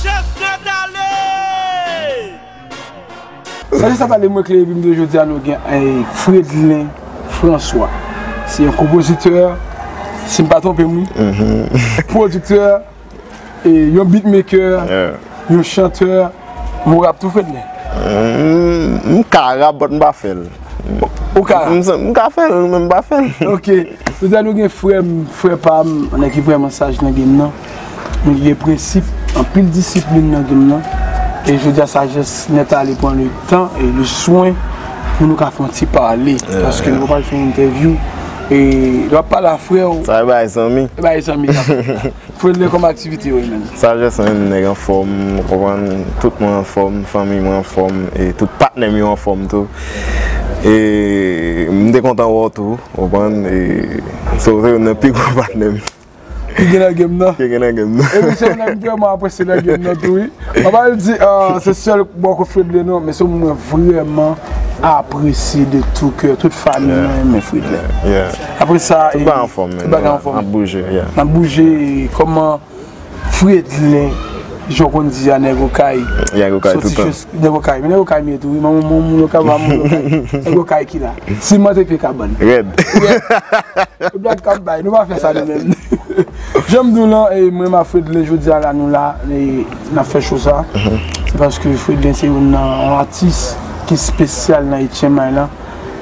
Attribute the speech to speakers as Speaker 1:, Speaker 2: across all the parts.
Speaker 1: Sagesse net ale! Sagesse net ale mwen klere epi jodi a nou gen Fredlin François se yon konpozitè si m pa twonpe m wi pwodiktè yon bitmekè yon chantè men w rap tou Fredlin? M ka rap
Speaker 2: but m pa fè l Ou ka
Speaker 1: rap? M ka fè
Speaker 2: l men m pa fè l Ok jodi
Speaker 1: a nou gen frè m frè pa m nèg ki vrèman saj nan game nan. Nou gen prensip, anpil disiplin nan gin nan, e jodi a sajès nèt a li pran le tan e le swen pou nou ka fè yon ti pale, paske nou pral fè yon entèvyou, e lè wap pale a frè ou. Sa e bagay zanmi.
Speaker 2: E bagay zanmi
Speaker 1: kap fèt la. Fredley kòman aktivite yo e menm? Sajès an menm nèg
Speaker 2: anfòm, ou konprann, tout mwen anfòm, fanmi mwen anfòm, e tout patnè m yo anfòm tou, e m te kontan wè w tou, ou konprann, e se ou se youn nan pi gwo patnè m. Ki gen nan
Speaker 1: game nan. Ki gen nan game nan.
Speaker 2: Epi se yon nèg m vrèman
Speaker 1: apresye nan game nan tou wi. An pa al di se sèl bòkò Fredley non men se yon moun mwen vrèman apresye de tou kè. Tout fanmi mwen renmen Fredley. Yeah. Apre sa e. Tout bagay anfòm men. Tout bagay
Speaker 2: anfòm. Nap bouje yeah. Nap bouje e
Speaker 1: kòman Fredley jan w konn di a nèg okay. Nèg okay toutan.
Speaker 2: Nèg okay men nèg okay mye
Speaker 1: tou wi man mwen moun okay mwen pa moun okay nèg okay ki la siman te pye kabann rèd
Speaker 2: e blag kap
Speaker 1: bay nou pa fè sa nou menm janm diw lan mwen menm ak Fredlin jodia la nou la nap fè show sa se paske Fredlin se youn nan yon atis ki spesyal nan etchenmay lan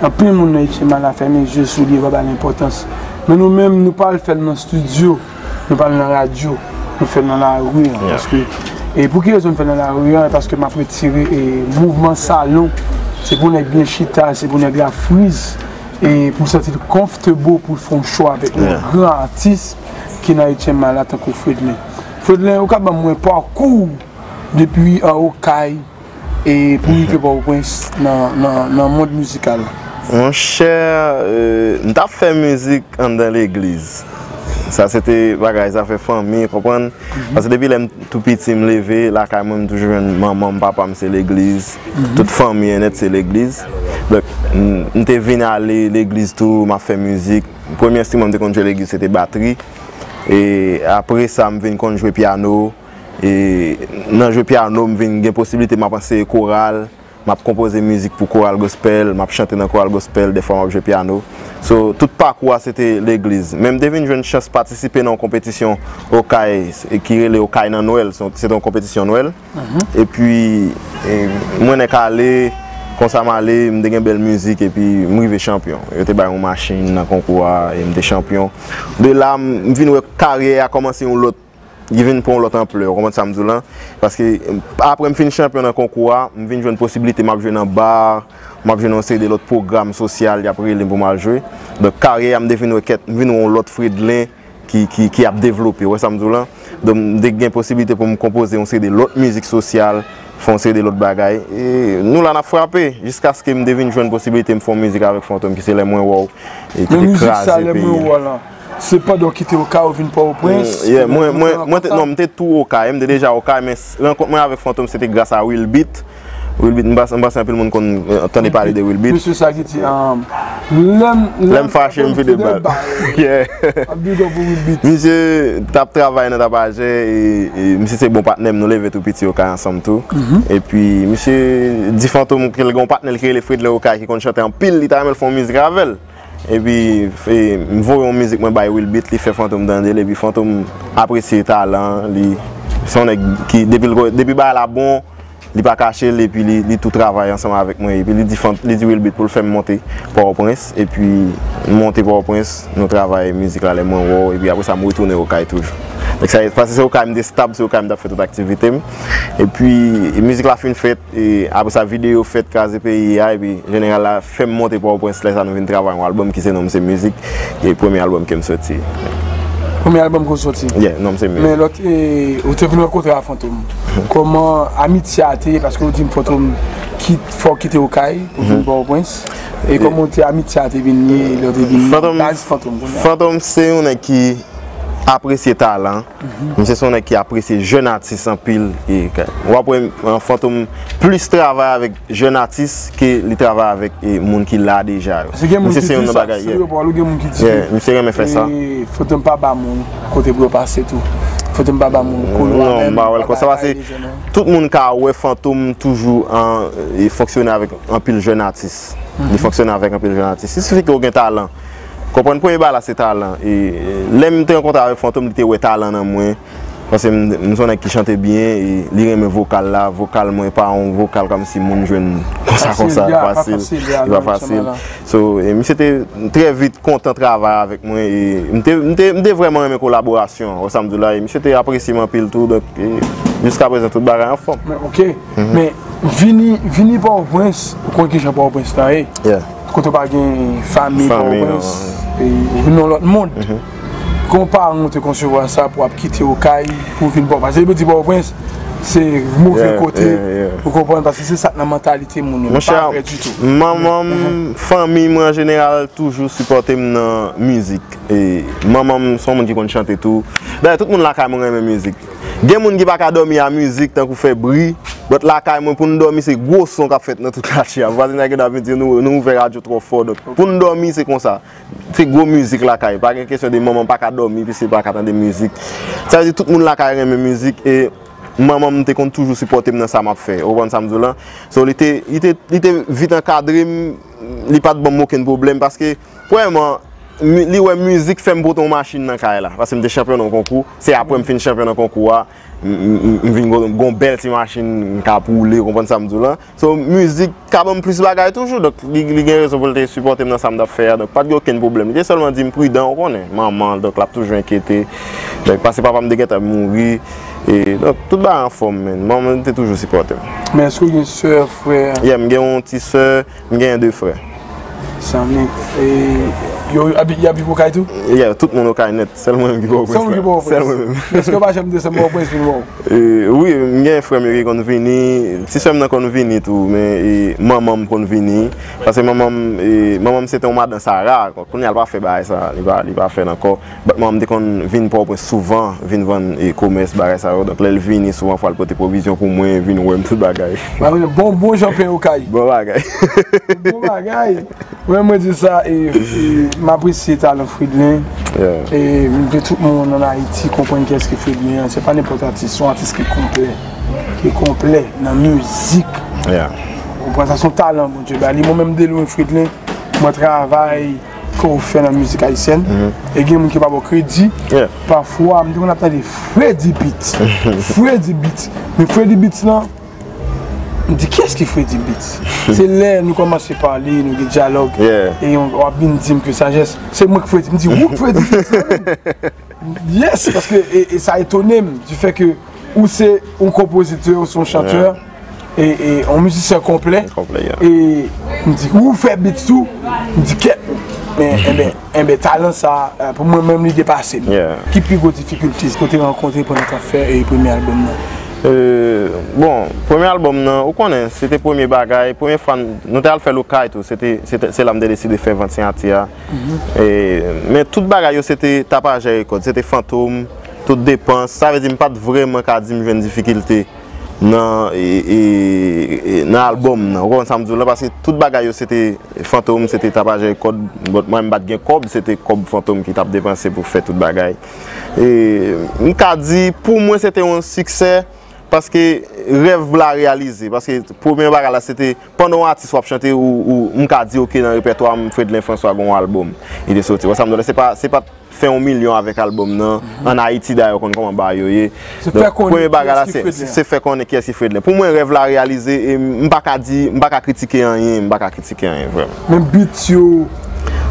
Speaker 1: anpil moun nan etchenmay la fèmen zye sou li yo pa bal enpòtans men nou menm nou pa al fèl nan studio. Nou pale nan radyo, nou fè nan lari an, paske, e pou ki rezon nou fè nan lari an, e paske m ap retire e mouvman salon, se pou nèg byen chita, se pou nèg la friz, e pou l santi l comfortable pou l fè yon show avèk nou, gran atis ki nan Etyenma la tankou Fredlin. Fredlin, ou ka ban mwen parcours w depi anwo kay? E pou rive Pòtoprens nan mond mizikal la? Monchè,
Speaker 2: m t ap fè mizik anndan legliz. Sa se te bagay zafè fanmi, ou konprann? Paske depi lè m tou piti, m leve, lakay mwen m toujou jwenn manman m, papa m se legliz. Tout fanmi an nèt se legliz. Donk, m te vin ale legliz tou, m ap fè mizik. Premye enstriman m te konn jwe legliz se te batri. E apre sa, m vin konn jwe pyano. E nan jwe pyano m vin gen posiblite m ap anseye koral, m ap konpoze mizik pou koral gospèl, m ap chante nan koral gospèl, dèfwa m ap jwe pyano. So, tout pakou a se te legliz. Men m te vin jwenn chans patisipe nan yon konpetisyon Okay ki rele Okay nan Nwèl, se te yon konpetisyon Nwèl. Epi, mwen nèk ale, konsa m ale, m te gen bèl mizik epi m rive chanpyon. Yo te bay yon machin nan konkou a e m te chanpyon. De la, m vin wè karyè a kòmanse yon lòt Li vin pran yon lòt anplè, ou konprann sa m di w lan? Paske, apre m fin chanpyon nan konkou a, m vin jwenn posiblite m ap jwe nan bar, m ap jwe nan yon seri de lòt pwogram sosyal y ap rele m pou m al jwe. Donk, karyè a m te vin wè kèt, m vin wè yon lòt Fredlin ki ap devlope, ou wè sa m di w lan? Donk, m te gen posiblite pou m konpoze yon seri de lòt mizik sosyal, fè yon seri de lòt bagay. E, nou la n ap frape! Jiskaske m te vin jwenn posiblite m fè yon mizik avèk Fantom ki se Lè Mwen Wè W e ki te kraze peyi a. Se pandan
Speaker 1: w kite Okay ou vin Pòtoprens? Yeah, mwen, mwen, mwen te, non,
Speaker 2: m te tou Okay, m te deja Okay, men rankont mwen avèk Fantom se te gras a Will Beat, Will Beat, m pa, m panse anpil moun konn tande pale de Will Beat. Mesye sa ki di,
Speaker 1: Lè m,
Speaker 2: lè m fache m vide bal. Yeah. Big up pou Will Beat. Misye t ap travay nan Tapajè e misye se bon patnè m, nou leve tou piti Okay ansanm tou. Epi misye di Fantom ke l gen yon patnè l ki rele Fredley Okay ki konn chante anpil, li ta renmen l fè yon mizik avè l. Epi m voye yon mizik mwen bay Will Beat li fè Fantom tande l epi Fantom apresye talan an li se yon nèg ki depi bagay la bon li pa kache l epi li tou travay ansanm avèk mwen epi li di Will Beat pou l fè m monte Pòtoprens epi m monte Pòtoprens nou travay mizik la lè mwen wè w epi apresa m retounen Okay toujou paske se Okay m te stab se Okay m t ap fè tout aktivite m epi mizik la fin fèt E apre sa videyo fèt kraze peyi a epi jeneral la fè m monte Pòtoprens lè sa nou vin travay yon albòm ki se non m se mizik e premye albòm ke m soti. Premye
Speaker 1: albòm ke w soti? Yeah, non m se mizik. Men lòt
Speaker 2: e ou
Speaker 1: te vin rankontre a Fantom kòman amitye a te ye paske ou di m Fantom kit fè w kite Okay pou w vin Pòtoprens e kòman te amitye a te vin ye lè w te vin baz Fantom? Fantom
Speaker 2: se yon nèg ki apresye talan. Misye son nèg ki apresye jèn atis anpil e wap wè Fantom plis travay avèk jèn atis ke li travay avèk moun ki la deja yo. Misye se yon nan
Speaker 1: bagay ye. Misye renmen fè sa. Fantom pa ba moun kote pou yo pase tou. Fantom pa ba moun koulwa menm. Non, m pa wèl konsa pase
Speaker 2: tout moun ka wè Fantom toujou an fonksyone avèk anpil jèn atis. Li fonksyone avèk anpil jèn atis. Sisifi ke ou gen talan. Konprann premye bagay la se talan e lèm te rankontre avèk Fantom li te wè talan nan mwen paske m son nèg ki chante byen e li renmen vokal la, vokal mwen pa yon vokal kòmsi moun jwenn konsa konsa fasil li pa fasil so e misye te trè vit kontan travay avèk mwen e m te vrèman renmen kolaborasyon an wè sa m di w la e misye te apresye m anpil tou donk e jiska prezan tout bagay anfòm. Men ok men
Speaker 1: vini vini pòtoprens ou konn kijan pòtoprens la ye. Kote pa gen fanmi pa ou prens ou nan lòt moun Kon paran ou te konsevwa sa pou ap kite ou kay pou vin pa ou prens Paske yo di pa ou prens se move kote ou konprann paske se sa k nan mantalite moun yo Monchè manman m
Speaker 2: fanmi m an jeneral toujou sipòte m nan mizik Manman m son moun ki konn chante tou Dayè tout moun lakay mwen renmen mizik Gen moun ki pa ka dòmi a mizik tankou fè bri, but lakay mwen pou nou dòmi se gwo son k ap fèt nan tout katye a. Vwazinay gen dwa vin di nou nou ouvè radyo twò fò. Donk pou nou dòmi se konsa. Se gwo mizik lakay. Pa gen kesyon de manman m pa ka dòmi piske l pa ka tande mizik. Sa vle di tout moun lakay renmen mizik e manman m te konn toujou sipòte m nan sa m ap fè. Ou konprann sa m di w lan? So li te vit ankadre m, li pa t ban m okenn pwoblèm paske. Premyèman, li wè mizik fè m pote yon machin nan kay la. Paske m te chanpyon nan yon konkou. Se apre m fin chanpyon nan konkou a, m vin gen yon bèl ti machin m ka woule, ou konprann sa m di w lan. So, mizik ka ban m plis bagay toujou. Donk, li gen rezon pou l te sipòte m nan sa m t ap fè a. Donk, pa t gen okenn pwoblèm. Li te sèlman di m pridan, ou konnen, manman l, donk l ap toujou enkyete. Donk, pase papa m te gen tan mouri. E, donk, tout bagay anfòm, men. Manman m te toujou sipòte m. Men, èske w gen
Speaker 1: sè, frè? Ye, m gen yon ti
Speaker 2: sè. M genyen 2 frè. Sanmi,
Speaker 1: e yo ap viv okay tou? Yeah, tout moun okay
Speaker 2: nèt, sèl mwen menm ki Pòtoprens la. Sèl ou ki Pòtoprens? Sèl mwen menm. Èske yo pa
Speaker 1: janm desann Pòtoprens vin wè w? Wi,
Speaker 2: m genyen frè m yo ki konn vini, ti sè m nan konn vini tou, men manman m konn vini, paske manman m, manman m se te yon madan sara, kounye a l pa fè bagay sa, li pa fè l ankò. Bat manman m te konn vin Pòtoprens souvan, vin vann e komès, bagay sa yo. Donk lè l vini, souvan fwa l pote pwovizyon pou mwen, vin wè m, tout bagay. Ba mwen yon bon bon jan
Speaker 1: pen okay. Bon bagay.
Speaker 2: Bon
Speaker 1: bagay. Mwen mwen di sa e m apresye talan Fridlin. Yeah. E m vle tout moun ann Ayiti konprann ki èske Fridlin an. Se pa nenpòt atis, s on atis ki konplè. Ki konplè nan mizik. Yeah. Ou konprann sa? S on talan Bondye ba li. Mwen menm de lwen Fridlin, mwen travay. Ke ou fè nan mizik ayisyèn E gen moun ki pa ba w kredi Pafwa m te konn ap tande Fredi beat Fredi beat Men fredi beat lan M di kiyès ki fredi beat Se lè nou kòmanse pale Nou gen dyalòg E w ap vin di m ke sajès Se mwen k fredi M di ou k fredi beat lan menm Yes paske e sa etone m di fè ke ou se yon konpozitè ou se yon chantè e yon mizisyen konplè e m di ou fè beat tou m di kèt enben talan sa pou mwen menm li depase m. Ki pi gwo difikilte ou te rankontre pandan tap fè premye albòm nan?
Speaker 2: Bon premye albòm nan ou konnen se te premye bagay premye fwa nou te al fèl okay tou se la m te deside fè vant siyati a. Men tout bagay yo se te tapajè rekòt, se te fantom, tout depans, sa vle di m pa t vrèman ka di m jwenn difikilte nan albòm nan, ou konprann sa m di w la, paske tout bagay yo se te fantom, se te tapajè rekòt, bòt mwen m pa t gen kòb, se te kòb fantom ki t ap depanse pou fè tout bagay. M ka di pou mwen se te yon siksè, paske rèv la reyalize, paske premye bagay la se te. Pandan yon atis wap chante ou m ka diw ke nan repètwa m Fredlin François gen yon album li te soti. Wè sa m vle di la? Se pat fè yon milyon avèk album nan. An Ayiti dayè ou konn kòman bagay yo ye. Premye bagay la se fè konnen kiyès ki Fredlin. Pou mwen rèv la reyalize e m pa ka di, m pa ka kritike anyen, m pa ka kritike anyen vrèman. Menm beats yo?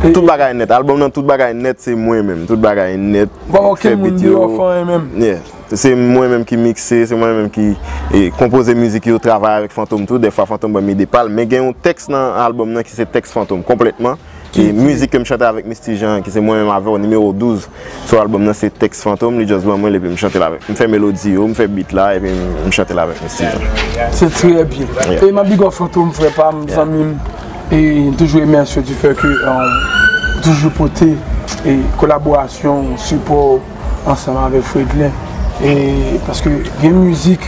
Speaker 1: Tout bagay
Speaker 2: nèt. Album nan tout bagay nèt se mwen menm. Tout bagay nèt. Ou pa wè okenn moun deyò
Speaker 1: fè anyen menm? Yeah. Se mwen menm
Speaker 2: ki mikse, se mwen menm ki konpoze mizik yo, travay avèk Fantom tou, dèfwa Fantom banm ide pa l. Men gen yon tèks nan albòm nan ki se tèks Fantom konplètman. E mizik ke m chante avèk Misty Jean ki se mwen menm avè w, nimewo 12 sou albòm nan se tèks Fantom, li just ban mwen l epi m chante l avèk. M fè melodi yo, m fè beat la epi m chante l avèk Misty Jean. Se trè byen.
Speaker 1: E m ap big up Fantom frè pa m, zanmi m. E m toujou remèsye w di fè ke ou toujou pote kolaborasyon w, sipò w. ansanm avèk Fredlin e paske gen mizik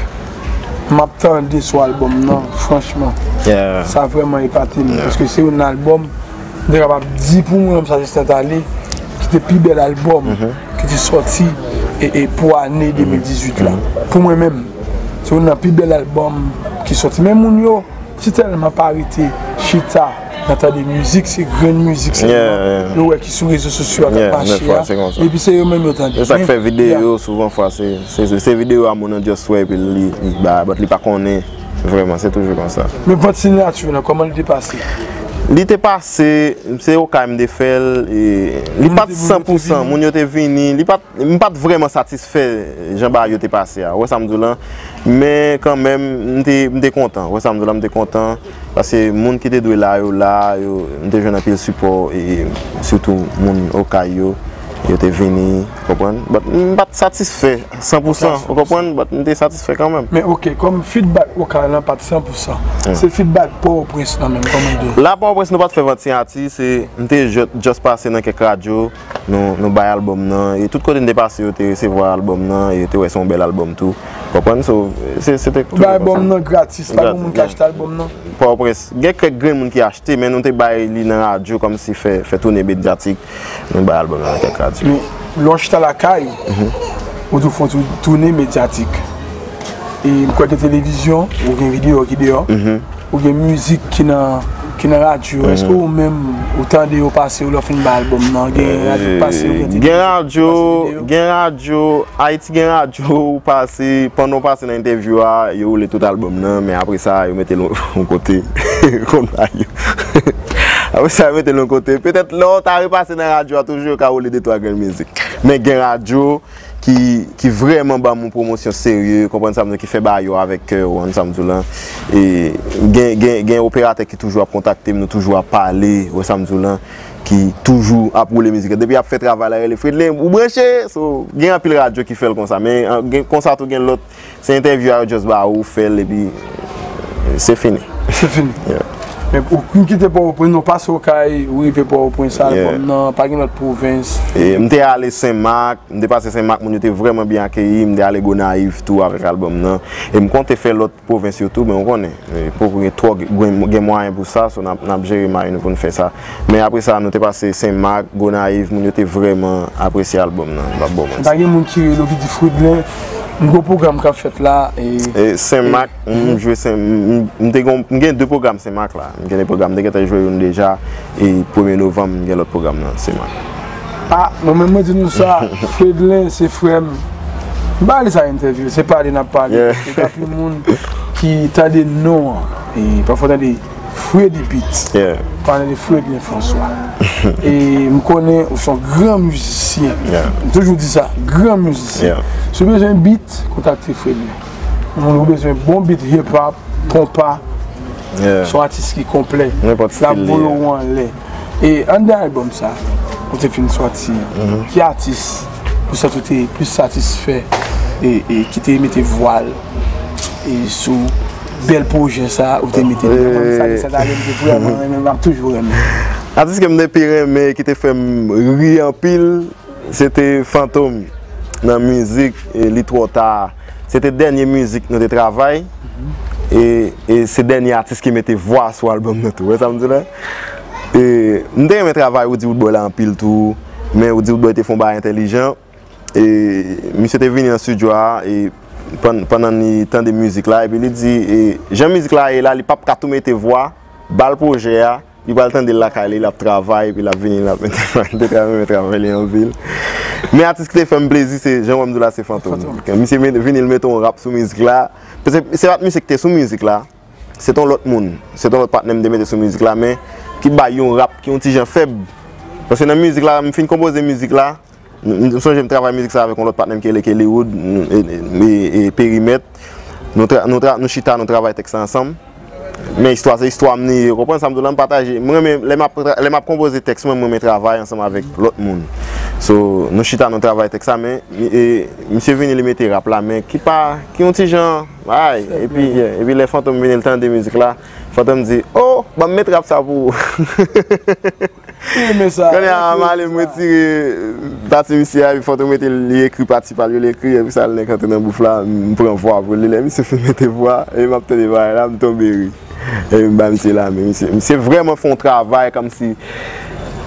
Speaker 1: map tande sou album nan franchman sa vrèman epatem paske se yon album mte kapab di pou mwen menm sa se Stentale ki te pi bèl album ki te sòti e pou ane 2018 la pou mwen menm se yon nan pi bèl album ki sòti men moun yo Si telman pa rete chita nan tande mizik se grenn mizik selman yo wè ki sou rezo sosyo a kap mache a epi se
Speaker 2: yo menm yo tande.
Speaker 1: Se sak fè videyo
Speaker 2: souvan fwa se videyo a moun an just wè epi li ba but li pa konnen vreman se toujou konsa. Men vant sinyati w lan
Speaker 1: koman li te pase? Li te
Speaker 2: pase se okay m te fè l e li pat 100 pousan moun yo te vini li pat M pa t vrèman satisfè jan bagay yo te pase a, ou wè sa m di w lan. Men kanmenm, m te kontan. Ou wè sa m di w la, m te kontan. Paske moun ki te dwe la yo la, m te jwenn anpil sipò, sitou moun Okay yo, yo te vini, ou konprann. But m pa t satisfè san pou san, ou konprann, but m te satisfè kanmenm. Men ok, kòm fidbak
Speaker 1: Okay lan pa t san pou san, se fidbak Pòtoprens lan menm, kòman l te? La Pòtoprens nou pa t fè vant
Speaker 2: siyati, se m te just pase nan kèk radyo. Nou bay album nan e tout kote n te pase yo te resevwa album nan e yo te wè se yon bèl album tou. Ou konprann? So, se te toujou konsa. Nou bay album nan gratis, pa
Speaker 1: gen moun ki achte album nan? Pòtoprens, gen
Speaker 2: kèk grenn moun ki achte men nou te bay li nan radyo kòmsi fè toune medyatik. Nou bay album nan nan kèk radyo. Men, lè w chita
Speaker 1: lakay, ou toujou fè yon ti toune medyatik. E m kwè gen televizyon ou gen videyo ki deyò. Ou gen mizik ki nan radyo, eske ou menm ou tande yo pase yo lè w fin bay album nan? Gen radyo ki pase yo, gen tele vizyon ki pase yo?
Speaker 2: Gen radyo, Ayiti gen radyo ou pase, pandan ou pase nan entèvyou a, yo woule tout album nan, men apre sa yo mete l yon kote, ou konn bagay yo. Apre sa yo mete l yon kote, petèt lè w ta repase nan radyo a toujou yo ka woule de twa grenn mizik. Men gen radyo. ki ki vrèman banm yon pwomosyon serye ou konprann sa m di w ki fè bagay yo avèk kè ou an sa m di w la e gen gen gen operatè ki toujou ap kontakte m nou toujou ap pale ou wè sa m di w lan ki toujou ap woule mizik la depi y ap fè travay la rele Fredlin ou branche so gen anpil radyo ki fè l konsa men gen konsa tou gen lòt Se entèvyou a yo just ba ou, ou fèl epi se fini. Se fini.
Speaker 1: Yeah. Epi
Speaker 2: ou m
Speaker 1: kite Pòtoprens, non pase Okay, ou rive Pòtoprens sa Yeah. album nan, pa gen lòt pwovens. E m te ale
Speaker 2: Sen Mak, m te pase Sen Mak moun yo te vrèman byen akeyi, m te ale Gonayiv tou avèk album nan. E m konte fè lòt pwovens yo tou men ou konnen, poko gen twò gen mwayen pou sa, so n ap jere may nou pou n fè sa. Men apre sa, nou te pase Sen Mak, Gonayiv, moun yo te vrèman apresye albòm nan, m pa bò manti. Pa gen moun ki rele w
Speaker 1: ki di Fridlin, m gen w pwogram k ap fèt la e. E Sen Mak,
Speaker 2: m jwe Sen, m te gen w, m gen de pwogram Sen Mak la. M gen de pwogram, m te gentan jwe youn deja e premye novanm m gen lòt pwogram nan Sen Mak. A, mwen
Speaker 1: menm mwen di nou sa, Fridlin se frè m. M pa rele sa entèvyou, se pale n ap pale. Paske gen anpil moun ki tande non an e pafwa w tande. Fredy Beat Pale de Fredlin François E m konnen ou son gran mizisyen M toujou di sa Gran mizisyen Si w bezwen beat Kontakte Fredlin Moun ou bezwen bon beat Hip hop Konpa Son atis ki konplè Nenpòt stil li La boule ou anlè E anndan album sa, ou te fin sòti, ki atis ou santi ou te plis satisfè e ki te mete vwa l sou bèl pwojè sa ou te mete deyò? Mwen menm sa gen sèt ane m te vrèman renmen, m ap toujou renmen. Atis ke m te
Speaker 2: pi renmen e ki te fè m ri anpil, se te Fantom nan mizik Li twò ta a. Se te dènye mizik nou te travay e se dènye atis ki mete vwa sou album nan tou. Ou wè sa m di la? M te renmen travay Woody Woodboy la anpil tou, men Woody Woodboy te fè yon bagay entèlijan. Misye te vini nan stidyo a pandan li tande mizik la epi li di jan mizik la ye la li pap ka tou mete vwa, ba l pwojè a, li pral tande l lakay li, l ap travay epi l ap vini l ap mete vwa. M te trè renmen travay li anpil. Men atis ki te fè m plezi se jan wè m di w la se Fantom. Misye vini l mete yon rap sou mizik la. Se pa t misye ki te sou mizik la. Se t on lòt moun, se t on lòt patnè m te mete sou mizik la men ki bay yon rap ki yon ti jan fèb. Paske nan mizik la, m fin konpoze mizik la, m sonje m travay mizik sa avèk yon lòt patnè m ki rele Kellywood e Perimèt. Nou chita nou travay tèks la ansanm. Men istwa se istwa m li ye. Ou konprann sa m di w la? M pataje. M renmen lè m ap konpoze tèks mwen, m renmen travay ansanm avèk lòt moun. So, nou chita nou travay tèks la men misye vini li mete rap la men ki pa, ki yon ti jan. Ray epi gen epi lè fantom vini l tande mizik la fantom di oh banm met rap sa pou ou kounye a m ale m retire pati misye a epi fantom mete li ekri pati pa l yo l ekri epi sa l nèk antre nan bouf la m pran vwa pou li lè misye fin mete vwa epi m ap tande bagay la m tonbe ri. Epi ba misye la men misye. Misye vreman fon travay komsi.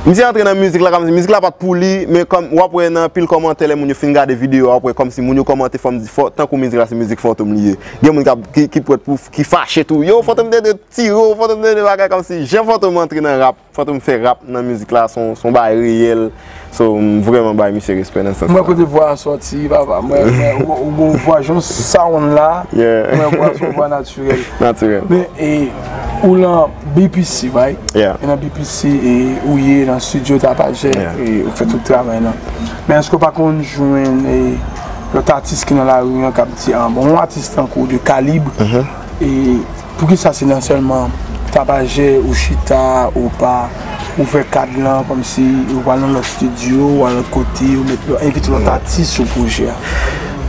Speaker 2: Misye antre nan mizik la komsi. Mizik la pat pou li. Men kom wap we nan pil komante le moun yo fin gade video wap we komsi moun yo komante fom di fo. Tankou mizik la se mizik fantom li ye. Gen moun kap ki pret pou ki fache tou. Yo fantom te dwe tire w fantom te dwe bagay komsi. Jan fantom antre nan rap. Fantom fè rap nan mizik la son bagay reyèl so m vrèman bay misye respè nan sans la. M wè kote vwa a sòti
Speaker 1: papa m wè ou gon vwa jan w sound la m wè vwa a son vwa natirèl. Natirèl. Men
Speaker 2: e
Speaker 1: ou lan BPC right? Yeah. E nan BPC e ou ye nan studio Tapajè e ou fè tout travay lan. Men èske w pa konn jwenn e lòt atis ki nan lari an k ap di an bon yon atis tankou 2 Kalib e Poukisa se nan sèlman tapajè ou chita ou pa ou fè kad lan kòmsi ou pa al nan lòt studio ou al lòt kote ou met lòt envite lòt atis sou pwojè a?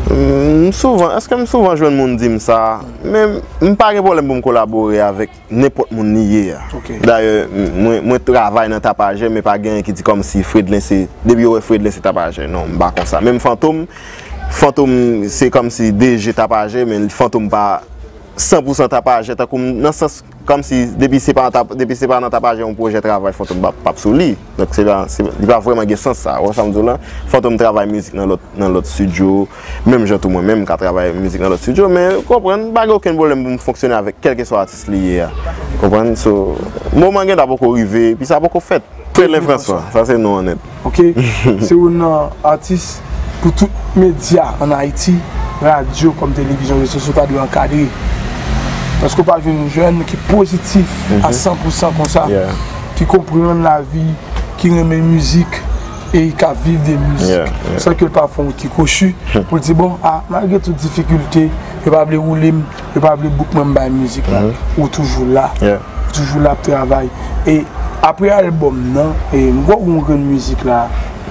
Speaker 2: M souvan, èske m souvan jwenn moun di m sa? Men m pa gen pwoblèm pou m kolabore avèk nenpòt moun li ye a. Dayè mwen travay nan tapajè men pa genyen ki di kòmsi Fredlin se depi yo wè Fredlin se tapajè non m pa konsa. Menm Fantom, Fantom se kòmsi DG tapajè men Fantom pa 100 pou 100 tapajè tankou m, nan sans kòm si depi se pa depi se pa nan tapajè yon pwojè travay Fantom pa pap sou li. Donk se pa se li pa vrèman gen sans sa. Ou wè sa m di w la? Fantom travay mizik nan lòt nan lòt studio, menm jan tou mwen menm m ka travay mizik nan lòt studio men ou konprann m pa gen okenn pwoblèm pou m fonksyone avèk kèlkeswa atis li ye a. Konprann? So moman gen ta poko rive epi sa poko fèt. Telen François, sa se non an nèt. Ok, se
Speaker 1: youn nan atis pou tout medya an Ayiti, radyo kòm televizyon, rezo sosyo ta dwe ankadre. Paske ou pa jwenn yon jèn ki pozitif a san pou san konsa, ki konprann lavi, ki renmen mizik e ki ap viv de mizik. San ke l pa fè yon ti kwochi pou l di bon, a malgre tout difikilte, yo pa vle woule m. yo pa vle Boukman bay mizik la, ou toujou la, ou toujou la ap travay. E apre album nan, e m kwè w gen yon grenn mizik la,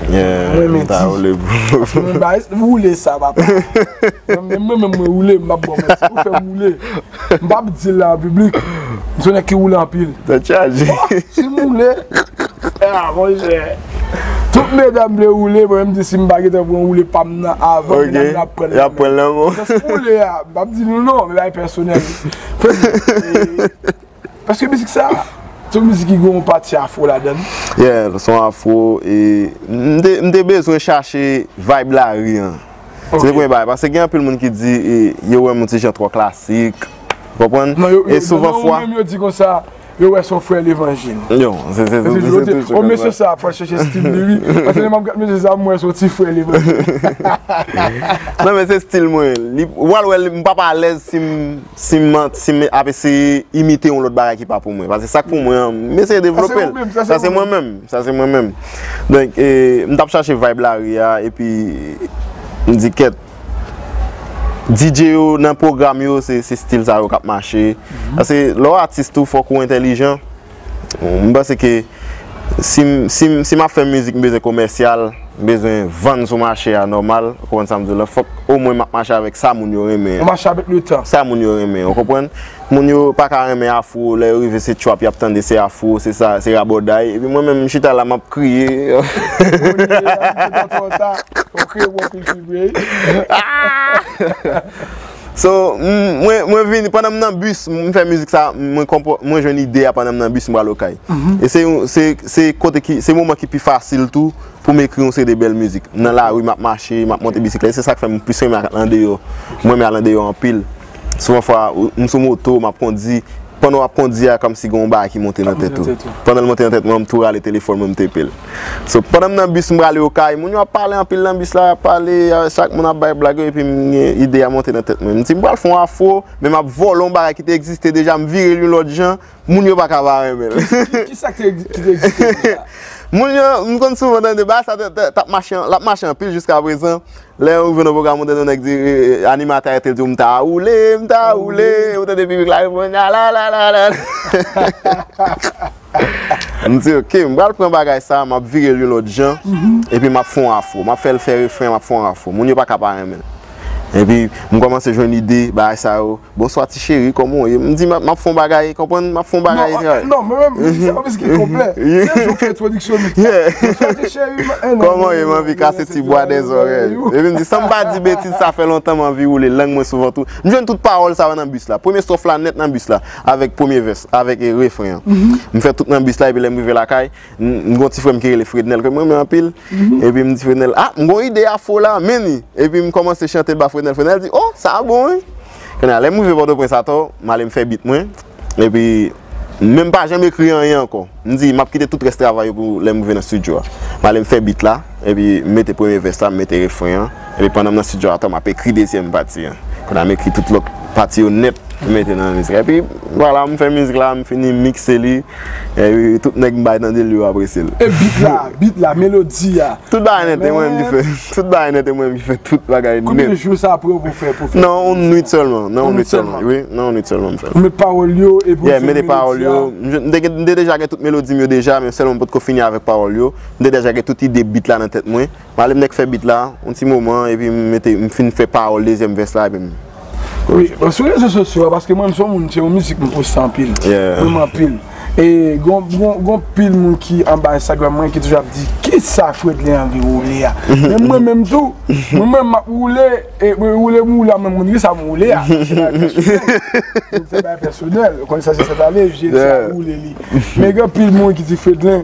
Speaker 1: m renmen di, paske mwen bay, woule sa papa. Mwen menm mwen woule, m pap ba w manti, ou fè m woule. M pap di l la an piblik, m se yon nèg ki woule anpil. Tèt chaje. Si m woule, a mon chè. Tout medam vle woule mwen menm di sim pa gentan pran woule pam nan avan medam yo ap pranl nan menm mwen. Jan sou woule a m pap di nou non men bagay pèsonèl wi. Paske mizik sa se yon mizik ki gen yon pati afro ladan l. Yeah li se yon
Speaker 2: afro e m te bezwen chache vibe lari an. Se te premye bagay paske gen anpil moun ki di yo wè m yon ti jan twò klasik. Ou konprann? E souvan fwa. Nan yo menm yo di konsa
Speaker 1: Yo wè son frè levanjil. Yo, se se
Speaker 2: tou se tou se. O mesye
Speaker 1: sa ap chèche stil li wi. Pase lè map gad mesye sa m wè son ti frè levanjil.
Speaker 2: Nan men se stil mwen. Ou pral wè m pap alèz si m ap eseye imite yon lòt bagay ki pa pou mwen. Pase sak pou mwen an m eseye devlope l. Sa se mwen menm. Sa se mwen menm. Donk m tap chache vibe lari a epi m di kèt. DJ yo nan pwogram yo se stil sa yo k ap mache. Pase lè w atis tou fòk ou entelijan. M panse ke si m ap fè mizik m bezwen komèsyal, m bezwen vann sou mache a nòmal. Ou konprann sa m di w la? Fòk omwen m ap mache avèk sa moun yo renmen an. Ou mache avèk le tan. Sa
Speaker 1: moun yo renmen an, ou
Speaker 2: konprann? Moun yo paka renmen afro lè yo rive se trap yap tande se afro se sa se rabòday epi mwen menm m chita la map kriye So mwen vini pandan m nan bus m fè mizik sa mwen jwenn ide a pandan m nan bus m pral okay e se kote ki se moman ki pi fasil tou pou m ekri yon seri de bèl mizik m nan lari map mache map monte bisiklèt se sak fè m plis renmen al andeyò mwen renmen al andeyò anpil. Souvan fwa, m sou moto, m ap kondi, pandan w ap kondi a, kòmsi gen yon bagay ki monte nan tèt ou. Pandan l monte nan tèt mwen an, m tou rale telefòn mwen, m tepe l. So, pandan m nan bis, m prale Okay, moun yo ap pale anpil nan bis la, y ap pale, chak moun ap bay blag yo, epi m gen ide a monte nan tèt mwen. M di m pral fè yon afro, men m ap vòlò yon bagay ki te egziste deja, m vire l yon lòt jan, Moun yo pa ka pa renmen l. Ki sa ki te
Speaker 1: egziste deja? Moun yo,
Speaker 2: m konn souvan tande bagay sa t ap mache, l ap mache anpil jiska prezan. Lè yon rive nan pwogram ou tande yon nèg di, animatè a rete l di w m ta woule, m ta woule, epi w tande piblik la reponn alalala. M di ok, m pral pran bagay sa a, m ap vire l yon lòt jan, epi m ap fè yon afro. M ap fè l fè refren, m ap fè yon afro. Moun yo pa ka pa renmen l. Epi m kòmanse jwenn ide bagay sa yo. Bonswa ti cheri koman ou ye m di map fon bagay konprann map fon bagay travay. Non mwen menm m se yon mizik
Speaker 1: ki konplè se jou m fè entwodiksyon mizik la. Bonswa ti cheri m anvi kase ti bwa dèzòrèy. Koman ou ye m anvi
Speaker 2: kase ti bwa dèzòrèy ou. Epi m di san m pa di betiz sa fè lontan m anvi woule lang mwen sou vant ou. M jwenn tout pawòl sa yo nan bis la. Premye stwòf la nèt nan bis la avèk premye vès avèk refren an. M fè tout nan bis la epi lè m rive lakay. M gon ti frè m ki rele Frednel ke m renmen anpil Epi m di Frednel a m gon ide afro la men ni Epi m kòmanse chante l ba Frednel Frednel di o sa a bon wi Kounye a lè m rive Pòtoprens atò m ale m fè beat mwen Epi men m pa janm ekri anyen ankò M di m ap kite tout rès travay yo pou lè m rive nan studio a M ale m fè beat la Epi m mete premye vès la m mete refren an Epi pandan m nan studio atò m ap ekri dezyèm pati an. Kounye a m ekri tout lòt pati yo nèt pou m mete nan mizik la. Epi vwala m fè mizik la, m fini mikse li. Epi tout nèg m bay tande l yo apresye l. E bit la, bit
Speaker 1: la, melodi a? Tout bagay nèt, e
Speaker 2: mwen menm ki fè. Tout bagay nèt, e mwen menm ki fè tout bagay nèt. Konbyen jou sa pran
Speaker 1: pou fè mizik la? Nan yon nwit sèlman.
Speaker 2: Nan yon nwit sèlman? Wi, nan yon nwit sèlman m fè l. Ou mete pawòl yo
Speaker 1: epi ou fè melodi a? M mete pawòl yo.
Speaker 2: M te deja gen tout melodi m yo deja men sèlman m potko fini avèk pawòl yo. M te deja gen tout ide bit la nan tèt mwen. Malem nèk fè beat la yon ti moman epi m mete m fin fè pawòl dezyèm vès la epi m Wi bon
Speaker 1: sou rezo sosyo a paske mwen m son moun se yon mizik m poste anpil menm anpil e gon gon pil moun ki anba enstagram mwen ki toujou ap di kisa fredley anvi woule a menm mwen menm tou mwen menm map woule e mwen woule m woule a mwen konn kisa m woule a se bagay pèsonèl ou konn sa se sètane je sa woule li men gen pil moun ki di fredley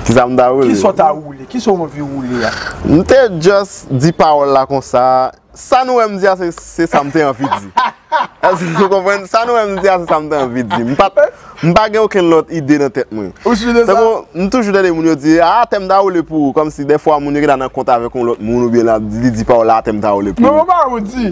Speaker 1: kisa m ta woule kisa w ta woule. Kisa ou anvi woule a? M te
Speaker 2: just di pawòl la konsa, sa nou wè m di a se sa m te anvi di. Èske nou konprann? Sa nou wè m di a se sa m te anvi di. M pat, m pa gen okenn lòt ide nan tèt mwen. Ou sur de sa? Tankou, m toujou tande moun yo di, ah tèm ta woule pou ou, kòmsi dèfwa moun yo gen dwa nan kont avèk yon lòt moun oubyen li di pawòl la ah tèm ta woule pou ou. Mwen pa wè ou di.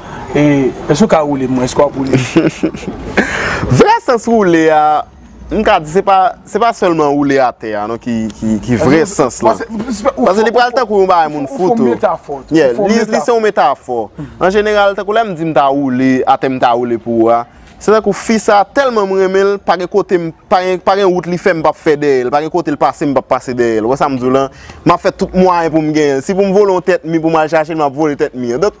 Speaker 1: E èske ou ka woule m mwen? Èske w ap woule m?
Speaker 2: Vrè sans woule a, m ka di se pa, se pa sèlman woule atè a non ki vrè sans lan. Pase li pral tankou yon bagay moun fout ou. Ou fon metafò. Yeah, li se yon metafò. An jeneral, tankou lè m di m ta woule atè m ta woule pou ou a, se tankou fi sa tèlman m renmen l, pa gen kote m, pa gen, pa gen wout li fè m pap fè dèyè l, pa gen kote l pase m pap pase dèyè l. Ou wè sa m di w lan? M ap fè tout mwayen pou m genyen l. Si pou m vole yon tèt mi pou m al chache l, m ap vole tèt mi an. Donk.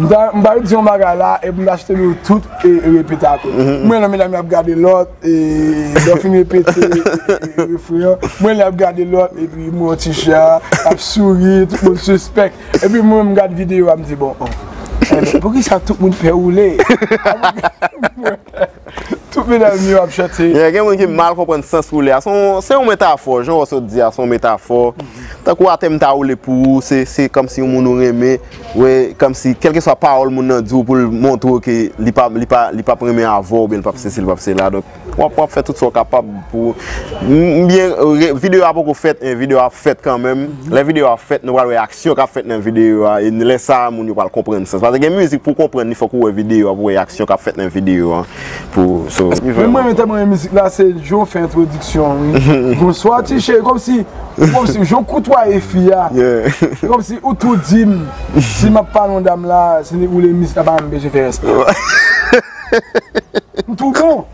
Speaker 1: M ta di yon bagay la epi m ta site nou tout e repete ak ou. M wè nan medam yo ap gade lòt e lè w fin repete refren an, m wè yo ap gade lòt epi m wè yon ti jan ap souri, tout moun sispèk. Epi mwen menm m gad videyo a m di bon, pouki sa tout moun pè woule? Tout medam yo ap chante. Yeah, gen moun ki mal
Speaker 2: konprann sans woule a. Se yon metafò, jan ou sot di a, se yon metafò. Tankou atè m ta woule pou ou, se kòmsi yon moun ou renmen, wè, kòmsi, kèlkeswa pawòl moun nan di w pou l montre w ke li pa, li pa, li p ap renmen avè w oubyen li p ap sesi, li p ap sela. Donk, w ap, w ap fè tout sa w kapab pou ou. M byen, videyo a poko fèt, men videyo a ap fèt kanmenm. Lè videyo a fèt, nou pral wè ak. Syon kap fèt nan videyo a, e lè sa a moun yo pral konprann sans. Pase gen mizik pou w konprann li fòk ou wè videyo a pou w wè aksyon kap fèt nan videyo a pou w so. Menm mwen menm
Speaker 1: tèlman renmen mizik la se jan w fè entwodiksyon an wi. Bonswa ti cheri kòmsi ou kòmsi jan w koutwaye fi a se kòmsi ou tou di m si m ap pale yon dam la se ni ou le mizik la pa menm bezwen fè respè. M tou bon.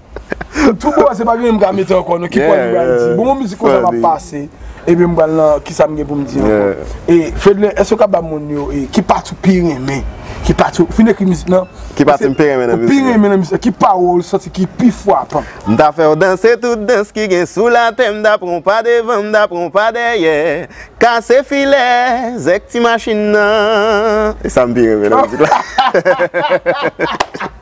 Speaker 1: Tou bon se pa genyen m ka mete ankò non ki pwen m pral di bon yon mizik konsa m ap pase epi m pral nan kisa m gen pou m di ankò e Fedlin èske w ka ba moun yo e ki pati w pi renmen ki pati w fin ekri mizik nan ki pati m pi renmen nan
Speaker 2: mizik lan ou pi renmen nan mizik lan ki
Speaker 1: pawòl ou santi ki pi fwapan m ta fè w danse
Speaker 2: tout dans ki gen sou latè m ta pran w pa devan m ta pran w pa dèyè kase filè zèk ti machin nan e sa m pi renmen nan mizik lan.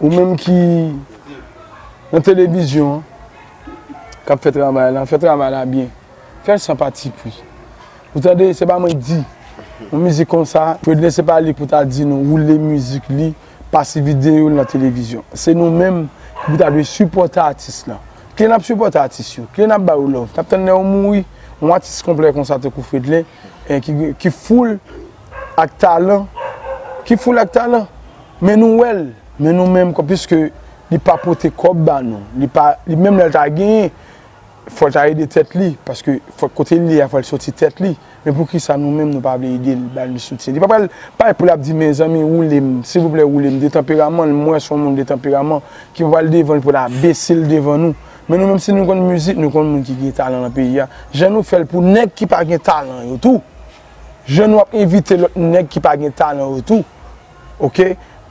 Speaker 1: Ou menm ki nan televizyon an, k ap fè travay la, fè travay la byen. Fè l san patipri. Ou tande, se pa mwen k di. Yon mizik konsa, Fredlin se pa li pou ta di nou woule mizik li, pase videyo l nan televizyon. Se nou menm ki pou ta dwe sipòte atis la. Kile n ap sipòte atis yo? Kile n ap ba yo love? N ap tann lè yo mouri? Yon atis konplè konsa tankou Fredlin, ki foul. ak talan, ki foule ak talan, men nou wè l, men nou menm kòm piske li pa pote kòb ba nou, li pa, li menm lè l ta genyen, fò l ta ede tèt li, paske fòk kote l ye a, fò l soti tèt li, men poukisa nou menm nou pa vle ede l, ba l yon soutyen. Li pa pral pale pou l ap di mezanmi woule m, silvouplè woule m, de tanperaman l, mwen se yon moun de tanperaman, ki pa pral devan l pou l ap bese l devan nou, men nou menm si nou konn mizik, nou konn moun ki gen talan nan peyi a, jan nou fè l pou nèg ki pa gen talan yo tou. Jan nou ap envite lòt nèg ki pa gen talan yo tou ok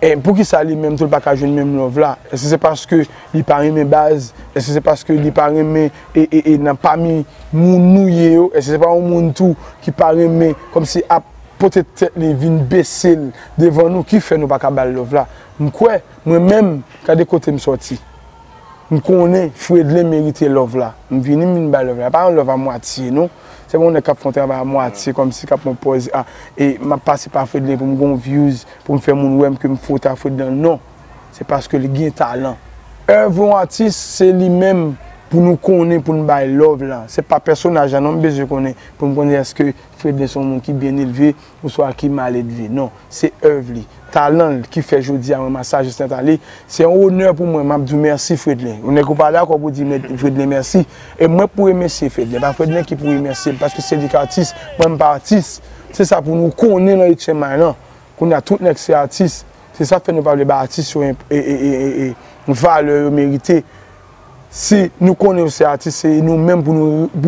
Speaker 1: en poukisa li menm tou li paka jwenn menm love la eske se paske li pa renmen baz eske se paske li pa renmen ee nan pami moun nou ye yo eske se pa yon moun tou ki pa renmen kòmsi ap pote tèt li vin besel devan nou ki fè nou paka bal love la m kwè mwen menm gade kote m sòti m konnen fredlin merite love la m vini m vin bal love la e pa yon love a mwatye non. Se yon nèg kap fon travay a mwatye kòmsi kap pran pòz a e map pase pa Fredlin pou m gon views pou m fè moun wè m ke m fot a Fredlin an non se paske li gen talan. Oeuvre yon atis se li menm pou nou konnen pou n bay love la se pa pèsonaj la non m bezwen konnen pou m konnen eske Fredlin se yon moun ki byen elve. Oswa ki maledve. Non, se èv li, talan l ki fè jodi a mwen masajis nan Tale. Se yon onè pou mwen, m ap di w mèsi Fredlin. Yon nèg ou pa dakò pou w di Fredlin mèsi. E mwen pou remèsye Fredlin. Pa Fredlin ki pou remèsye m paske se li ki atis, mwen m pa atis. Se sa pou nou konnen nan Etchen May lan. Kounye a tout nèg se atis. Se sa k fè nou pa vle bay atis yo valè yo merite. si nou konnen yo se atis se nou menm pou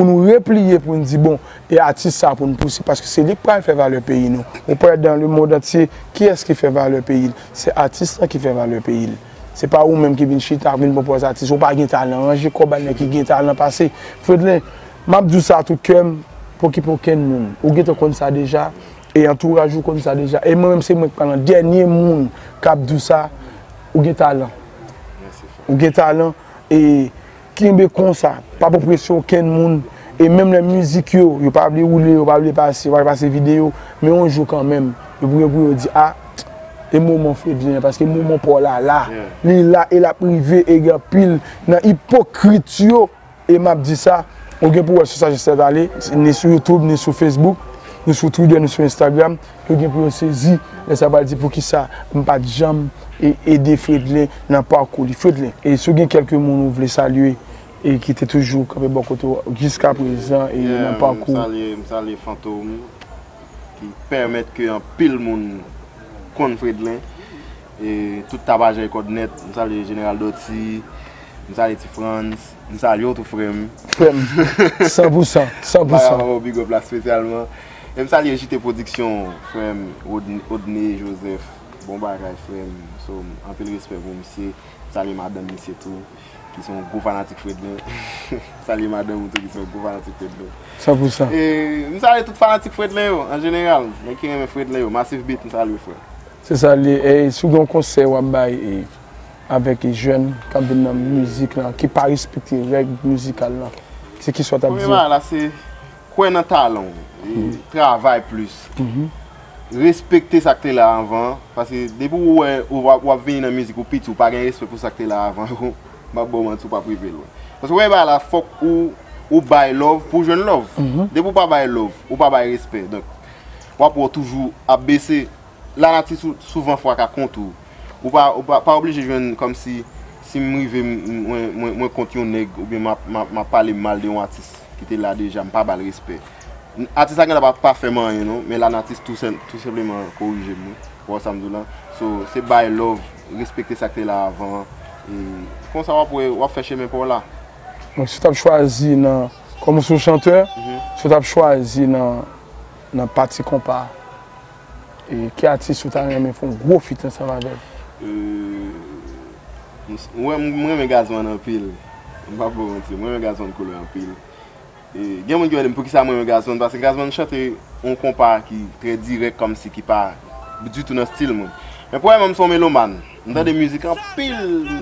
Speaker 1: nou repliye pou n di bon e atis sa pou n pousib paske se li k pral fè valè peyi nou ou pè dan le mond antye kiyès ki fè valè peyi l se atis lan ki fè valè peyi l se pa ou menm ki vin chita vin pran pòz atis ou pa gen talan ranje kò bay nèg ki gen talan pase Fredlin m ap di w sa a tout kè m pokipe okenn moun ou gentan konn sa deja. E antouraj ou konn sa deja. E mwen menm se mwen ki pral an dènye moun k ap di w sa, ou gen talan. Ou gen talan e kenbe konsa. Pa pran presyon okenn moun. E menm lè mizik yo, yo pa vle woule, yo pa vle pase, yo pa vle pase videyo, men yon jou kanmenm, yo pou gen pou yo di a, e moman Fredlin an, paske moman pa w la la. Li la e l ap rive e gen anpil nan ipokrit yo. E map di sa, ou gen pou wè sou sa jis tèt ale, ni sou youtube, ni sou facebook, ni sou twitter, ni sou instagram, yo gen pou yo sezi lè sa pral di poukisa m pat janm ede Fredlin nan pakou li. Fredlin, e si w gen kèlke moun ou vle salye e ki te toujou kanpe bò kote w jiska prezan e nan pakou ou? Yeah, m salye Fantom
Speaker 2: ki pèmèt ke anpil moun konn Fredlin. E tout Tabajè kòd nèt. M salye Jeneral Dòti. M salye Ti Frantz. M salye w tou frè m. Frè m. San
Speaker 1: pou san. San pou san. M pa ka pa ba w big up la spesyalman.
Speaker 2: E m salye JT Production, frè m, Odney Joseph. Bon bagay frè m. So, anpil respè pou misye. M salye madanm misye tou. Ki se yon gwo fanatik Fredlin. M salye madanm ou tou ki se yon gwo fanatik Fredlin. San pou san. E
Speaker 1: m salye tout
Speaker 2: fanatik Fredlin yo, an jeneral. Nèg ki renmen Fredlin yo. Massive Beat, m salye w frè m. Se sa li ye ey
Speaker 1: si w gen yon konsèy wap bay e avèk e jèn kap vin nan mizik lan ki pa respekte règ mizikal lan se ki sa w tap di yo? Premye bagay la se
Speaker 2: kwè nan talan w e travay plis respekte sak te la anvan an paske depi w wè wap vini nan mizik ou piti w pa gen respè pou sak te la avan yo map ba w manti w pap rive lwen paske premye bagay la fòk ou bay love pou w jwenn love depi w pa bay love ou pa bay respè donk wap wè w toujou ap bese. Lanati souvan fwa ka kont ou. Ou pa oblije jwenn kòmsi si m rive mwen kont yon nèg oubyen m ap pale mal de yon atis ki te la deja m pa ba l respè. Atis la gen lè pa pa fè m anyen non men lanati tou senpleman korije m wi. Ou wè sa m di w la? So se bay love, respekte sa k te la avan an e konsa w ap wè w ap fè chemen pa w la. Donk si
Speaker 1: w t ap chwazi nan, kòm ou se yon chantè, si w t ap chwazi nan pati konpa. Ki atis ou ta renmen fon gwo fit ansanm avèl?
Speaker 2: Mwen renmen Gazman anpil. M pa bò manti. Mwen renmen Gazman Couleur anpil. Gen moun ki mande m poukisa mwen renmen Gazman. Paske Gazman chante yon konpa ki trè dirèk kòmsi ki pa ditou nan stil mwen. Men pwèlman m se yon melomàn. M tande mizik anpil.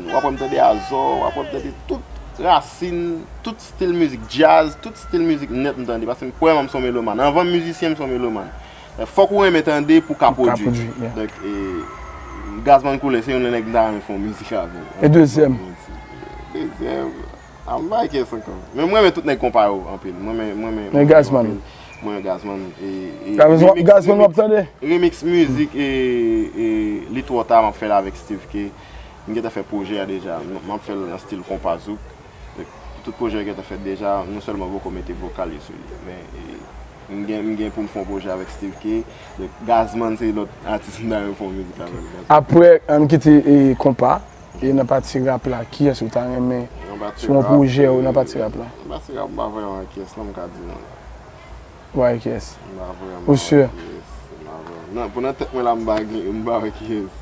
Speaker 2: W ap wè m tande Azò, w ap wè m tande tout rasin, tout stil mizik djaz, tout stil mizik nèt m tande. Paske pwèlman m se yon melomàn. Anvan m mizisyen m se yon melomàn. Fòk ou renmen tande pou ka pwodwi. Donk e Gazman Couleur se youn nan nèg m ta renmen fè yon mizik avè l. E dezyèm?
Speaker 1: Dezyèm,
Speaker 2: I'm like yes ankò. Men m renmen tout nèg konpa yo anpil. M renmen Gazman.
Speaker 1: M renmen Gazman. Gazman w ap tande? Remix mizik
Speaker 2: e Li Twò Ta m ap fè l avèk Steeve Kay. M gentan fè pwojè a deja. M ap fè l nan stil konpa zouk. Tout pwojè yo gentan fèt deja, nou sèlman poko mete vokal yo sou li. Men, m gen pou m fè yon pwojè avèk Steeve Kay. Donk, Gazman se lòt atis m ta renmen fè yon mizik avè l. Aprè n
Speaker 1: kite konpa, e nan pati rap la, kiyès ou ta renmen sou yon pwojè ou nan pati rap la? Nan pati rap, m pa vrèman
Speaker 2: gen kiyès non m ka di non. Ou pa gen kiyès?
Speaker 1: M pa vrèman gen kiyès. Ou sure? Nan,
Speaker 2: pou nan tèt mwen la, m pa gen, m pa wè kiyès.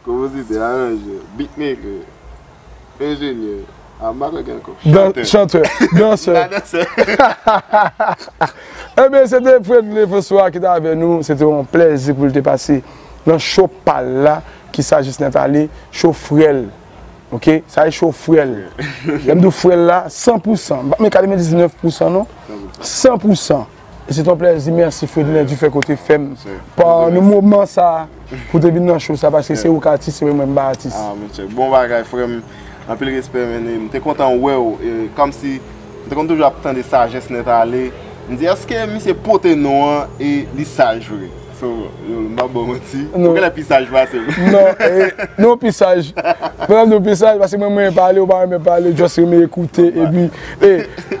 Speaker 2: Konpozitè, aranjè, beatmaker, enjenyè, amatè gen ankò, chantè, chantè,
Speaker 1: dansè, nan dansè. Ebyen se te Fredly François ki te avè nou, se te yon plèzi pou l te pase nan show pa l la ki sa jis nèt ale, show frè l ok, sa se show frè l, lè m di w frè l la san pou san, m pa p met 99 pou san non, san pou san. Se ton plèzi, mèsi Fredner du fèt ke w te fè m pa nan moman sa pou w te vin nan show sa paske se ou ki atis epi mwen m pa atis. Ah monchè, bon bagay
Speaker 2: frè m, anpil respè men m te kontan wè w e kòmsi m te konn toujou ap tande sajès Nètale, m di èske misye pote non an e li saj vre? So, m pap ba w manti, ou genlè pi saj pase m. Non,
Speaker 1: nou pi saj. Mwen menm tou pi saj paske mwen m renmen pale, ou pa renmen pale, just renmen ekoute epi e.